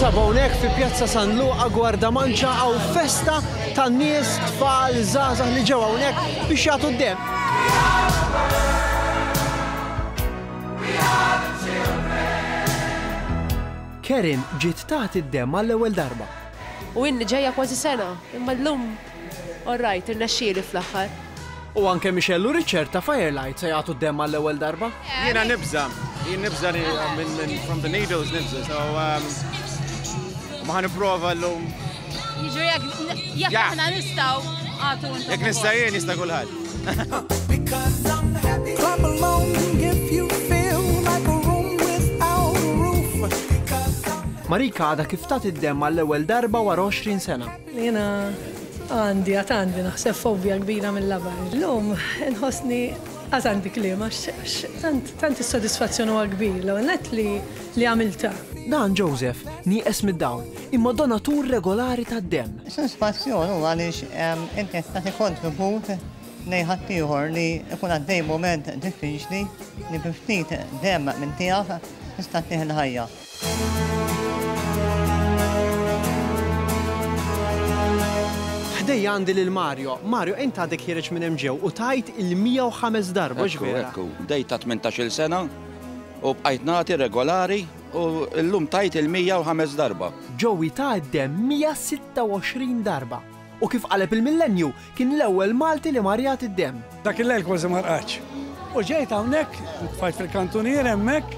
Ninsab hawnhekk fi Pjazza San Luqa Gwarda Manċa għaw festa tan nies tfal żgħażagħ li ġew hawnhekk biex jagħtu d-dem. Karen ġiet tagħti d-demm għall-ewwel darba. U inni ġejja kważi sena, imma llum all right, irnexxieli fl-aħħar. U anke Michelle u Richard ta' Firelight se jagħtu d-demm għall-ewwel darba. Jiena nibża', jien nibża' li minn from the needles nibża', so ma ħa nipprova llum. Jiġri jekk jekk aħna nistgħu għatu Jekk nista' jien jista' kulħadd. Clap along if you feel like a room without a roof. Marika għada kif tat id-dem għall-ewwel darba wara 20 sena. Jena għandi għat għandi naħseb fobja kbira mill-labar. L-lum nħosni għat għandi klima, tant il-sodisfazzjon u għagbir, l-għonet li għamilta. Dan Joseph nieqes mid-dawl imma donatur regolari tad-demm. Sodisfazzjon hu għaliex inti qed tagħti kontribut lejn ħaddieħor li jkun għaddej mument diffiċli li bi ftit demm minn tiegħek tista' tieħ il-ħajja. Ħdejja għandi lil Mario. Mario, int għadek ħiereġ minn hemm ġew u tajt il-105 darba, mhux vera? Bdejt ta' tmintax-il sena u bqajt nagħti regolari U llum tajt il-mija u ħames darba. Joey ta d-demm 126 darba. U kif qaleb il-Millennju, kien l-ewwel Malti li mar jagħti d-demm. Dak il-lejl kważi ma rqadx. U ġejt hawnhekk, intfajt fil-kantunier hemmhekk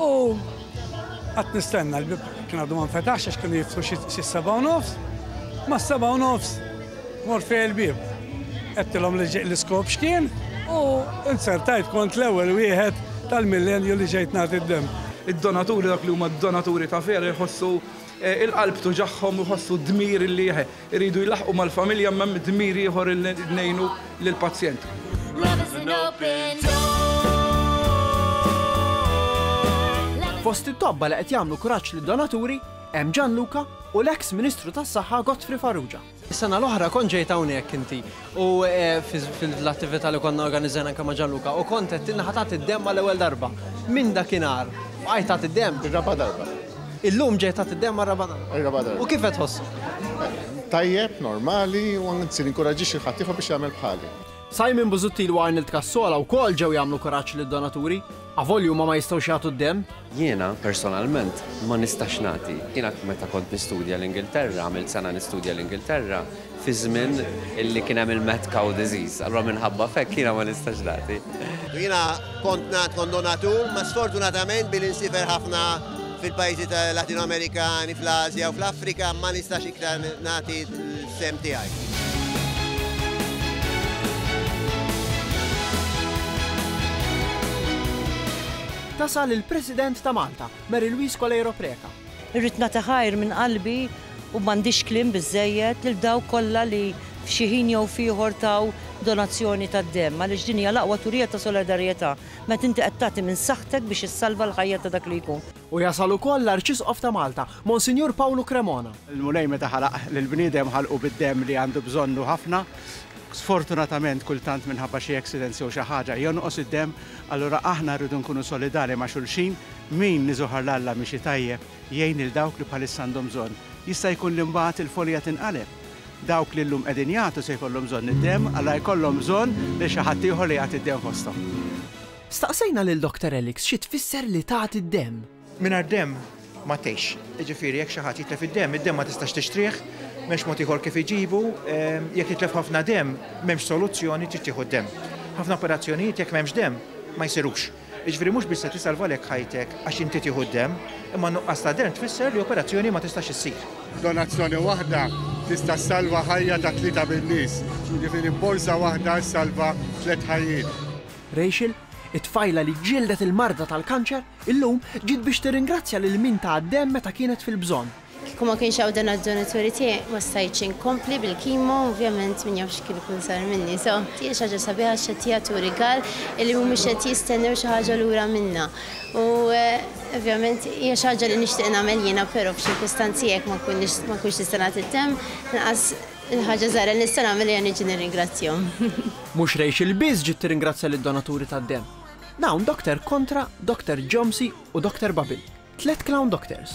u qatt nistenna, l-bieb kien għadu ma nfetaħx għax kienu jiftħu xi s-seba' u nofs. Mas-seba' u nofs Mort fejn il-bieb. Għedtilhom li ġej l-iskop x'kien u inzertajt kont l-ewwel wieħed tal-millenju li ġejt nagħti d-demm. Id-donaturi, dawk li huma donaturi ta' vera jħossu il-qalb tuġagħhom u jħossu d-dmir li jridu jlaħħqu mal-familja imma hemm dmir ieħor li ngħinu lill-pazjent. Fost it-tobba li qed jagħmlu kuraġġ lid-donaturi, Hemm Gianluca u l-eks Ministru tas-Saħħa Godfrey Farrugia. Is-sena l-oħra kont ġejt hawnhekk inti u fil-attività li konna organizzajna anke ma' Gianluca u kont qedtilna ħa tagħti d-demm għall-ewwel darba. Minn dakinhar bqajt tagħti d-demm? Ir-raba' darba. Illum ġejt tagħti d-demm għar-raba' darba? Ir-raba' darba. U kif qed tħossok? Tajjeb, normali u anzi ninkoraġġixxi lil ħaddieħor biex jagħmel bħali. Simon Busuttil u Arnold Cassola wkoll ġew jagħmlu kuraġġ lid-donaturi. Avolja huma ma jistgħux jagħtu d-demm. Jiena, personalment, ma nistax nagħti. Jiena meta kont nistudja l-Ingilterra, għamilt sena nistudja l-Ingilterra, fi żmien li kien hemm il-mad cow disease. Allura minħabba f'hekk jiena ma nistax nagħti. Jiena kont ngħad kont donatur, ma sfortunatament billi nsifer ħafna fil-pajjiżi Latino-Amerikani, fl-Ażja u fl-Afrika ma nistax iktar nagħti. Fehmti tiegħi. Tasal il-President ta' Malta, Mary Louise Coleiro Preca. Irrid nagħti ħajr minn qalbi u m'għandix kliem biżżejjed lil dawk kollha li f'xi ħin jew f'ieħor taw donazzjoni tad-demm għaliex din hija l-aqwa turija ta' solidarjetà meta inti qed tagħti minn saħħtek biex issalva l-ħajja ta' dak li jkun. U jasal ukoll l-Arċisqof ta' Malta, Monsinjur Pawlu Cremona. Il-Mulej meta ħalaq lill-bniedem ħalqu bid-demm li għandu bżonnu ħafna. Sfortunatament kultant minħabba xi accidents jew xi ħaġa jonqos id-demm, allura aħna rridu nkunu solidali ma' xulxin, min iżohar 'l Alla miexi tajjeb, jgħin lil dawk li bħalissa għandhom bżonn. Jista' jkun li mbagħad il-folija tinqaleb. Dawk li llum qegħdin jagħtu se jkollhom bżonn id-demm, allura jkollhom bżonn lil xi ħaddieħor li jagħti d-demm fosthom. Staqsejna lil Doctor Alex xi tfisser li tagħti d-demm. Mingħajr demm ma tgħixx. Jiġifieri jekk xi ħadd jitlef id-demm, id-demm ma tistax tixtrih, m'hemmx mod ieħor kif iġibu, jekk jitlef ħafna demm m'hemmx soluzzjoni trid tieħu d-demm. Ħafna operazzjonijiet jekk m'hemmx demm ma jsirux. Jiġifieri mhux biss se tisalvalek ħajtek għax inti tieħu d-demm, imma n-nuqqas ta' demm tfisser li operazzjoni ma tistax issir. Donazzjoni waħda tista' ssalva ħajja ta' tlieta min-nies, jiġifieri borża waħda ssalva tliet ħajjiet. Rachel, it-tfajla li ġġieldet il-marda tal-kanċer, illum ġiet biex tirringrazzja lil min taha d-demm meta kienet fil-bżonn. Kieku ma kienx hawn donaturi tiegħi ma stajtx inkompli bil-kimo u ovvjament min jaf x'kien ikun sar minni. So, hija xi ħaġa sabiħa għax qed jagħtu rigal illi mhumiex qed jistennew xi ħaġa lura minnha. U ovvjament hija xi ħaġa li nixtieq nagħmel jiena però f'ċirkustanzi hekk ma nkunx nista' nagħti d-demm, inqas Il-ħaġa żgħira li nista' nagħmel hija niġi nirringrazzjahom. Mhux Rachel biss ġiet tirringrazzja lid-donaturi tad-demm. Dawn Doctor Contra, Doctor Jomsy u Doctor Babil, tliet clown doctors.